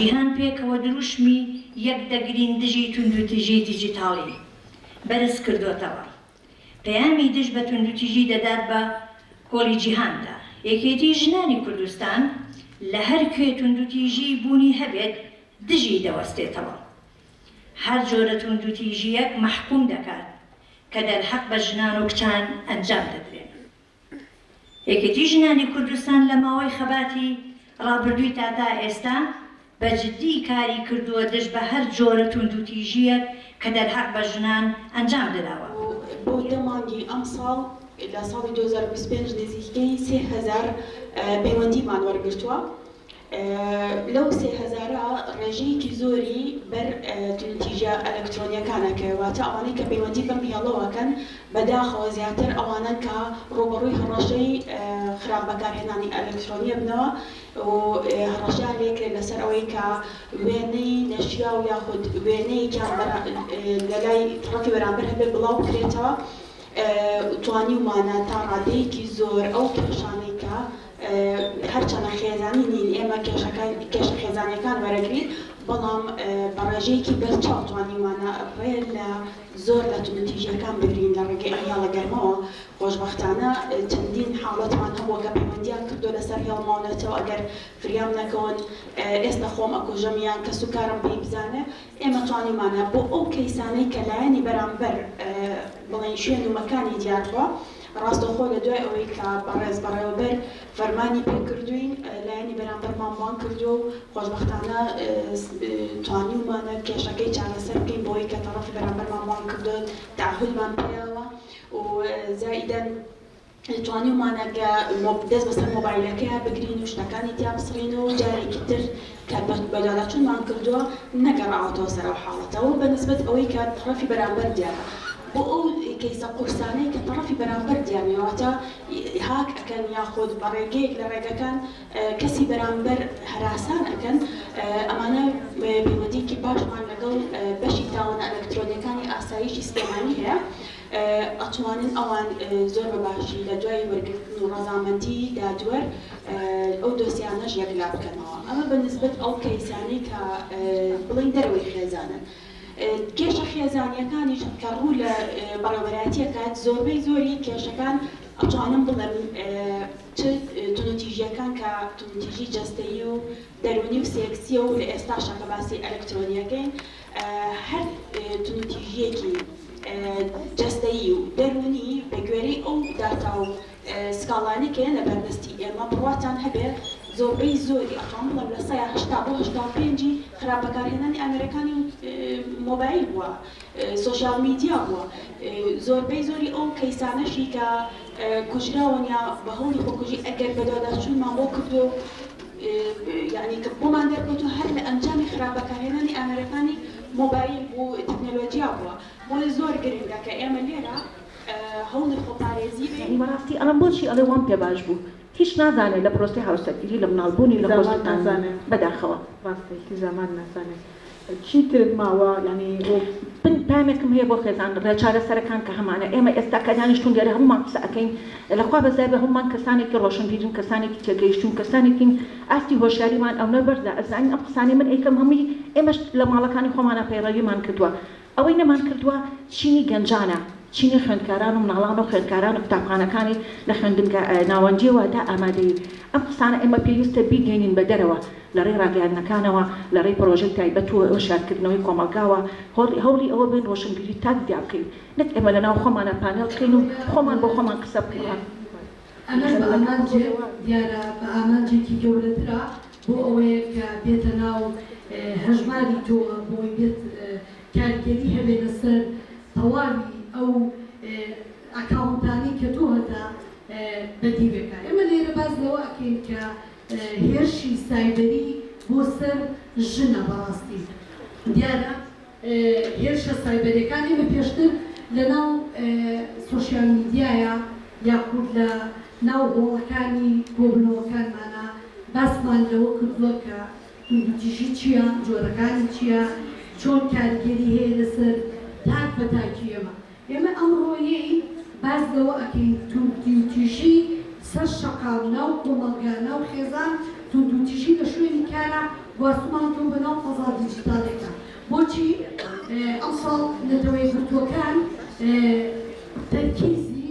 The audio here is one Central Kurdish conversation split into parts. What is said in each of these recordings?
جیهان پێکەوە دروشمی یەک دەگرین دژی توندوتیژی دیجیتاڵی بەرز کردۆتەوە، پەیامی دژ بە توندوتیژی دەدات بە کۆڵی جیهاندا. یەکێتی ژنانی کوردستان لە هەر کوێ توندوتیژی بوونی هەبێت دژی دەوەستێتەوە، هەر جۆرە توندوتیژییەک مەحکووم دەکات کە دەرهەق بە ژنان و کچان ئەنجام دەدرێن. یەکێتی ژنانی کوردستان لە ماوەی خەباتی ڕابردووی تا تا ئێستا بە جدی کاری کردووە دژ بە هەر جۆرە توندوتیژییەک کە دەرهەق بە ژنان ئەنجام دراوە. بۆ دە مانگی ئەمساڵ لە ساڵی دوو هەزار و بیست و پێنج نزیکەی سێ هەزار پەیوەندیمان وەرگرتووە لەو سێ هەزارە ڕێژەیەکی زۆری بەر توندوتیژە ئەلەکترۆنیەکانە کەوێ واتە ئەوانەی کە پەیوەندی بەم هێڵەوە ئەکەن بەداخەوە زیاتر ئەوانەن کە ڕووبەڕووی هەڕەشەی خراپ بەکارهێنانی ئەلەکترۆنی ئەبنەوە و هەڕەشەیان لێ کرێ لەسەر ئەوەی کە وێنەی نەشیاو یاخود وێنەیەکیان لەلای تەڕەفی بەرامبەر هەبێ بڵاو بکرێتەوە توانیومانە تا ڕادەیەکی زۆر ئەو کێشانەی کە هەرچەندە خێزانی نین ئێمە کێشەکان کێشە خێزانیەکان وەرەگرین بەڵام بە ڕێژەیەکی بەرچاو توانیومانە ڕێ لە زۆر لە توندوتیژیەکان بگرین لە ڕێگەی ئەم هێڵە گەرمەوە خۆشبەختانە چەندین حاڵەتمان هەبووە کە پەیوەندیان کردوە لەسەر هێڵ ماو نەچەو ئەگەر فریام نەکەون ئێستا خۆم ئەکوژم یان کەس و کارم پێی بزانێ ئێمە توانیومانە بۆ ئەو کەیسانەی کە لایەنی بەرامبەر بڵێن شوێن و مەکانی دیار بوە ڕاستەوخۆ لە دوای ئەوەی کە بەڕێز بەڕێوەبەر فەرمانی پێکردووین، لایەنی بەرامبەرمان بانگ کردووە و خۆشبەختانە توانیومانە کێشەکەی چارەسەر بکەین بەوەی کە تەڕەفی بەرامبەرمان بانگ کردووە و تەعەهودمان پێیاوە و زائیدەن توانیومانە کە دەست بەسەر مۆبایلەکەیا بگرین و شتەکانی تیا بسڕین و جارێکی تر کە پەخت بە لالەقینمان کردووە نەگەڕاوەتەوە سەر ئەو حاڵەتە و بە نسبەت ئەوەی کە تەڕەفی بەرامبەر دیارە بۆ ئەو کەیسە قورسانەی کە تەڕەفی بەرامبەر دیار نیە واتە هاک ئەکەن یاخود بە ڕێگەیەک لە ڕێگەکان کەسی بەرامبەر هەراسان ئەکەن ئەمانە پەیوەندیەکی باشمان لەگەڵ بەشی تاوانە ئەلەکترۆنیەکانی ئاسایشی سلێمانی هەیە. ئەتوانن ئەوان زۆر بە باشی لە دوای وەرگرتن و ڕەزامەندی دادوەر ئەو دۆسیانەش یەکلا بکەنەوە ئەمە بە نسبەت ئەو کەیسانەی کە بڵێین دەرەوەی خێزانن کێشە خێزانیەکانیش کە ڕوو لە بەڕێوەبەرایەتی ئەکات زۆربەی زۆری کێشەکان ئەتوانم بڵێم چ توندوتیژیەکان کە توندوتیژی جەستەیی و دەرونی و سێکسیە و لە ئێستاشا کە باسی ئەلکترۆنیەکەین هەر توندوتیژییەکی جەستەیی و دەروونی بە گوێرەی ئەو داتا و سکاڵانەی کە یەنە بەردەستی ئێمە بڕواتان هەبێ زۆربەی زۆری ئەخەم بڵێم لە سەیا هەشتا بۆ هەشتا و پێنج ی خراپ بەکارهێنانی ئامێرەکانی مۆبایل بووە سۆشیال میدیا بووە زۆربەی زۆری ئەو کەیسانەشی کە کوژراون یا بە هەوڵی خۆکوژی ئەگەر بەدواداچوونمان بۆ کردووە و یانی کە بۆمان دەرکەوتوە هەر لە ئەنجامی خراپ بەکارهێنانی ئامێرەکانی مۆبایل بو تەکنەلۆجیا بوە بۆیە زۆر گرنگە کە ئێمە لێرە هەوڵی خۆپارێزی بەین. یانی بەڕاستی ئەڵێم بۆچی ئەڵێ وام پێ باش بو هیچ نازانێ لە پرۆسەی هاوسەرگیری لە مناڵ بونی لە خۆ سوتاندنی بەداخەوە. ڕاستە هیچی زامان نازانێ. چی تر ماوە یانی بن پەیامێکم هەیە بۆ خێزان ڕێ چارەسەرەکان کە هەمانە ئێمە ئێستا کە دانیشتون لێرە هەموومان قسە ئەکەین لە خوا بەزای بێ هەموومان کەسانێکی ڕۆشنبیرین کەسانێکی تێگەیشتون کەسانێکین ئاستی هۆشیاریمان ئەونە بەرزە ئەزانین ئەم قسانەی من ئەیکەم هەمووی ئێمەش لە ماڵەکانی خۆمانا پەیڕەویمان کردوە ئەوەی نەمان کردووە چینی گەنجانە، چینی خوێندکاران و مناڵان و خوێندکارانی قوتابخانەکانی لە خوێندنگە ناوەندیە واتە ئامادەیی ئەم قسانە ئێمە پێویستە بیگەینین بە دەرەوە لە ڕێی ڕاگەیاندنەکانەوە لە ڕێی پرۆژەی تایبەت و هۆشیارکردنەوەی کۆمەڵگاوە هەوڵی ئەوە بەین ڕۆشنبیری تاک دیابکەین نەک ئێمە لە ناو خۆمانا پانێڵ بکەین و خۆمان بۆ خۆمان قسە بکەین. ئەمەش بە ئامانجێ دیارە بە ئامانجێکی گەورەترە بۆ ئەوەیە کە بێتە ناو هەژماری تۆوە بۆی بێت کاریگەری هەبێنە سەر تەواوی ئەو ئەکاونتانەی کە تۆ هەتا بە دی بێکا ئێمە لێرە باس لەوە ئەکەین کە هێرشی سایبری بۆ سەر ژنە بەڕاستی دیارە هێرشە سایبەریەکانی بە پێشتر لە ناو سۆشیال میدیایە یاخود لە ناو هۆڵەکانی کۆبونەوەکانمانا باسمان لەوە کردوە کە توندوتیژی چیە جۆرەکانی چیە چۆن کاریگەری هەیە لەسەر تاک بە تاکی ئێمە ئێمە ئەمڕۆیی باس لەوە ئەکەین توندوتیژی سەر شەقام ناو کۆمەڵگا ناو خێزان توندوتیژی لە شوێنی کارا گواستمانەتەوە بە ناو فەزا دیجیتاڵیەکە بۆچی ئەمساڵ نەتەوەیەکگرتووەکان تەرکیزی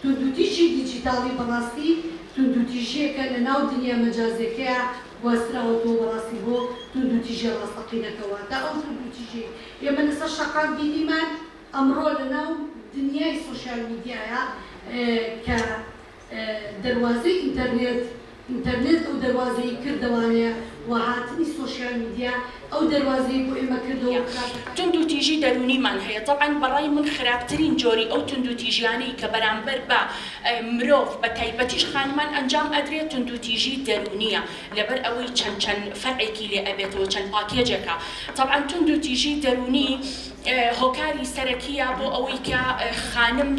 توندوتیژی دیجیتاڵی بەڕاستی توندوتیژییەکە لە ناو دنیا مەجازییەکەیا گواستراوەتەوە بەڕاستی بۆ توندوتیژییە ڕاستەقینەکە واتە ئەو توندوتیژییەی ئێمە لەسەر شەقام بینیمان ئەمڕۆ لە ناو دنیای سۆشیال میدیایا کە دەروازەی ئینتەرنێت ئینتەرنێت ئەو دەروازەیی کردەوانەیە و هاتنی سۆشیال میدیا ئەو دەروازەیی بۆ ئێمە کردەوە و کاتەکانی. توندوتیژی دەروونیمان هەیە تەبعەن بەڕای من خراپترین جۆری ئەو توندوتیژیانەی کە بەرامبەر بە مرۆڤ بە تایبەتیش خانمان ئەنجام ئەدرێت توندوتیژی دەروونیە لەبەر ئەوەی چەند چەند فەرعێکی لێ ئەبێتەوە چەند پاکێجێکە تەبعەن توندوتیژی دەروونی هۆکاری سەرەکییە بۆ ئەوەی کە خانم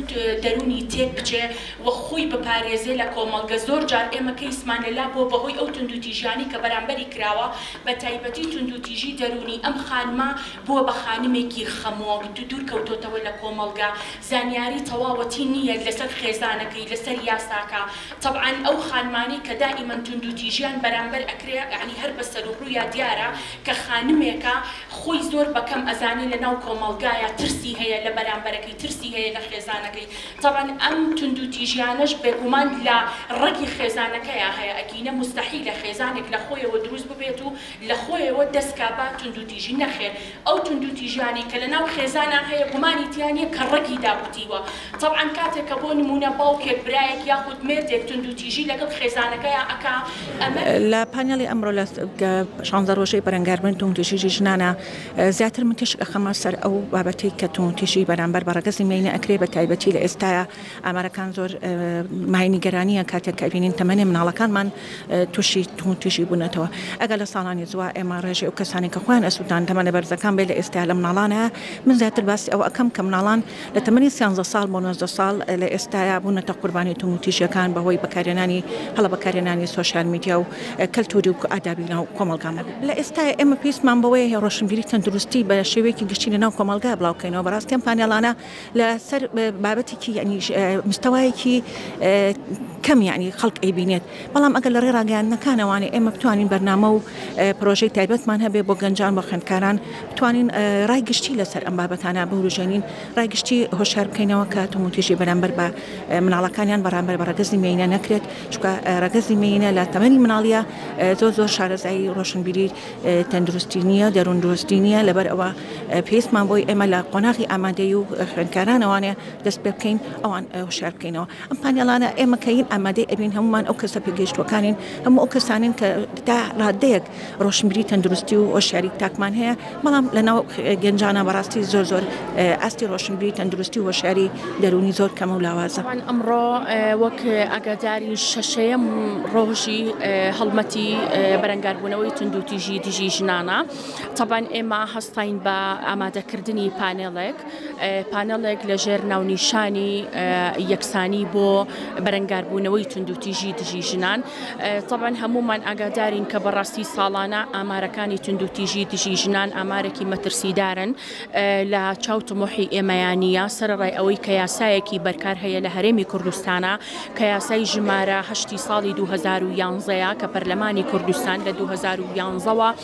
دەروونی تێک بچێ و خۆی بپارێزێ لە کۆمەڵگە، زۆر جار ئێمە کەیسمان لە لا بووە بەهۆی ئەو توندوتیژیانەی کە بەرامبەری کراوە، بە تایبەتی توندوتیژی دەروونی، ئەم خانمە بووە بە خانمێکی خەمۆک، دوور کەوتۆتەوە لە کۆمەڵگە، زانیاری تەواوەتی نییە لەسەر خێزانەکەی، لەسەر یاساکە، تەبعەن ئەو خانمانەی کە دائیمەن توندوتیژیان بەرامبەر ئەکرێ یەعنی هەر بە سەروڕوویا دیارە کە خانمێکە، خۆی زۆر بە کەم ئەزانێ لە ناو کۆمەڵگایا ترسی هەیە لە بەرامبەرەکەی ترسی هەیە لە خێزانەکەی تەبعەن ئەم توندو تیژیانەش بێگومان لە ڕەگی خێزانەکەیا هەیە ئەگینە موستەحیلە خێزانێک لە خۆیەوە دروست ببێت و لە خۆیەوە دەست کا بە توندو تیژی نەخێر ئەو توندو تیژیانەی کە لە ناو خێزانا هەیە گومانی تیا نیە کە ڕەگی داکوتیوە تەبعەن کاتێک کە بۆ نموونە باوکێک برایەک یاخود مێردێک توندوتیژی لەگەڵ خێزانەکەیا ئەکا ئەمە. لە پانێڵی ئەمڕۆ لە شانزە ڕۆژەی بەرەنگاربوونی توندوتیژی ژنانا زیاتر من تیشک ئەخەمە سەر ئەو بابەتەی کە توندوتیژی بەرامبەر بە ڕەگەزی مێینە ئەکرێ بە تایبەتی لە ئێستایا ئامارەکان زۆر مایەی نیگەرانیە کاتێک کە ئەبینین تەمەنی مناڵەکانمان تووشی توندوتیژی بوونەتەوە ئەگەر لە ساڵانی زوا ئێمە ڕێژەی ئەو کەسانەی کە خۆیان ئەسووتان تەمەنە بەرزەکان بێ لە ئێستایا لە مناڵانە من زیاتر باسی ئەوە ئەکەم کە مناڵان لە تەمەنی سیانزە ساڵ بۆ نۆزدە ساڵ لە ئێستایا بوونەتە قوربانی توندوتیژیەکان بەهۆی بەکارهێنانی هەڵە بەکارهێنانی سۆشیال میدیا و کەلتوری و ئادابی ناو کۆمەڵگامان لە ئێستایا ئێمە پێویستمان بەوەیە هێ ڕۆشنبیری تەندروستی بە شێوەیەکی گشتی لە ناو کۆمەڵگا بڵاو بکەینەوە بەڕاستی ئەم پانێڵانە لە سەر بابەتێکی یەعنی مستەوایەکی کەم یەعنی خەڵک ئەیبینێت. بەڵام ئەگەر لەڕێی ڕاگەیاندنەکانەوانێ ئێمە بتوانین بەرنامە و پرۆژەی تایبەتمان هەبێ بۆ گەنجان بۆ خوێندکاران بتوانین ڕای گشتی لەسەر ئەم بابەتانە بوروژێنین ڕای گشتی هۆشار بکەینەوە کە توموتیژی بەرامبەر بە مناڵەکانیان بەرامبەر بە ڕەگەزی مێینە نەکرێت چکە ڕەگەزی مێینە لە تەمەنی مناڵیە زۆر زۆر شارەزایی ڕۆشنبیری تەندروستی نییە دەروون دۆستی نییە لەبەر ئەوە پێستمان بۆی ئێمە لە قۆناغی ئامادەی و خوێندکارانەوانێ دەست پێ بکەین ئەوان هۆشار بکەینەوە ئەم پانێڵانە ئێمە کە ین ئامادەی ئەبین هەمومان ئەو کەسە پێگەیشتوەکانین هەموو ئەو کەسانین کە تا ڕادەیەک ڕۆشنبیری تەندروستی و هۆشیاری تاکمان هەیە بەڵام لە ناو گەنجانە بەڕاستی زۆر زۆر ئاستی ڕۆشنبیری تەندروستی و هۆشیاری دەرونی زۆر کەمە و لاوازە من ئەمڕۆ وەک ئاگاداری شەشەیەم ڕۆژی هەڵمەتی بەرەنگاربوونەوەی توندوتیژی دژی ژنانە تەبان ئێمە هەستین بە ئامادەکردنی پانێڵێک پانێڵێک لەژێر ناونیشانی یەکسانی بۆ بەرەنگاربوونەوەی توندوتیژی دژی ژنان طبعاً هەمومان ئاگادارین کە بەڕاستی ساڵانە ئامارەکانی توندوتیژی دژی ژنان ئامارێکی مەترسیدارن لە چاو تمۆحی ئێمەیانە سەرڕای ئەوەی کە یاسایەکی بەرکار هەیە لە هەرێمی کوردستانە کە یاسای ژمارە هەشتی ساڵی 2011 کە پەرلەمانی کوردستان لە 2011ەوە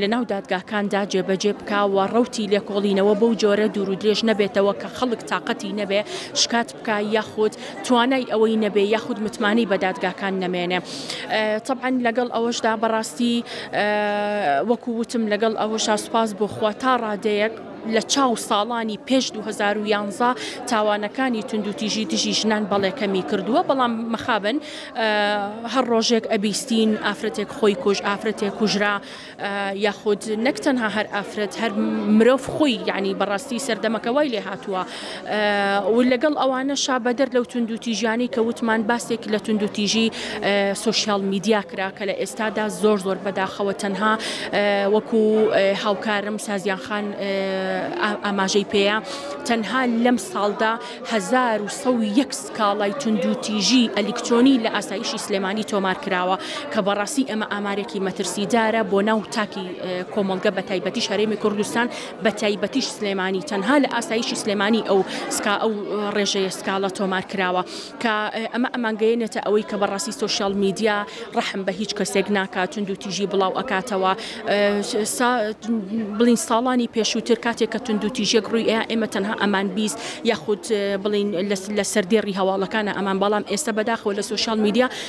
لەناو دادگاکاندا جێبەجێ بکا و ڕەوتی لێکۆڵینەوە بەو جۆرە دوور و درێژ نەبێتەوە کە خەڵک تاقەتی نەبێ شکات بکا یاخود توانای ئەوەی نەبێ یاخود متمانەی بە دادگاکان نەمێنێ تەبعەن لەگەڵ ئەوەشدا بەڕاستی وەکو وتم لەگەڵ ئەوەشا سوپاس بۆ خوا تا ڕادەیەک لە چاو ساڵانی پێش دوو هەزار و یانزە تاوانەکانی توندوتیژی دژی ژنان بەڵێ کەمی کردووە بەڵام مەخابن هەر ڕۆژێک ئەبیستین ئافرەتێک خۆی کوژ ئافرەتێک کوژرا یاخود نەک تەنها هەر ئافرەت هەر مرۆڤ خۆی یعنی بەڕاستی سەردەمەکە وای لێ هاتووە و لەگەڵ ئەوانەشا بەدەر لەو توندوتیژیانەی کە وتمان باسێک لە توندوتیژی سوسیال میدیا کرا کە لە ئێستادا زۆر زۆر بەداخەوە تەنها وەکو هاوکارم سازیان خان ئاماژەی پێەیە تەنها لەم ساڵدا 1970 سکاڵای توندوتیژی ئەلیکترۆنی لە ئاسایشی سلێمانی تۆمار کراوە کە بەڕاستی ئەمە ئامارێکی مەترسیدارە بۆ ناو تاکی کۆمەڵگە بە تایبەتی شارێمی کوردستان بەتایبەتیش سلێمانی تەنها لە ئاسایشی سلێمانی ئەو سکا ئەو ڕێژەیە سکاڵا تۆمار کراوە کە ئەمە ئەمانگەیەنێتە ئەوەی کە بەڕاستی سوسیال میدیا ڕەحم بە هیچ کەسێک ناکات تونند و تیژی بڵاو ئەکاتەوە بڵین ساڵانی پێشووتر کاتێک کە تونند و تیژێک ڕووی ئەیە ئێمە تەنها ئەمان بیست یاخود بڵین لە سەردێڕی هەواڵەکانە ئەمان بەڵام ئێستا بەداخەوە لە سوسیال میدیا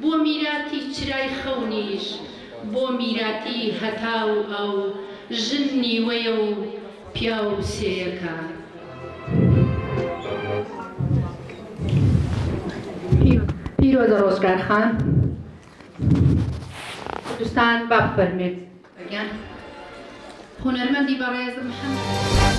بۆ میراتی چرای خەونیش بۆ میراتی هەتا و ئەو ژن نیوەیە و پیاو سێیەکە. پیرۆزە ڕۆژگار خان کوردستان با بفەرموێت گیان هونەرمەندی بەڕێز محمد.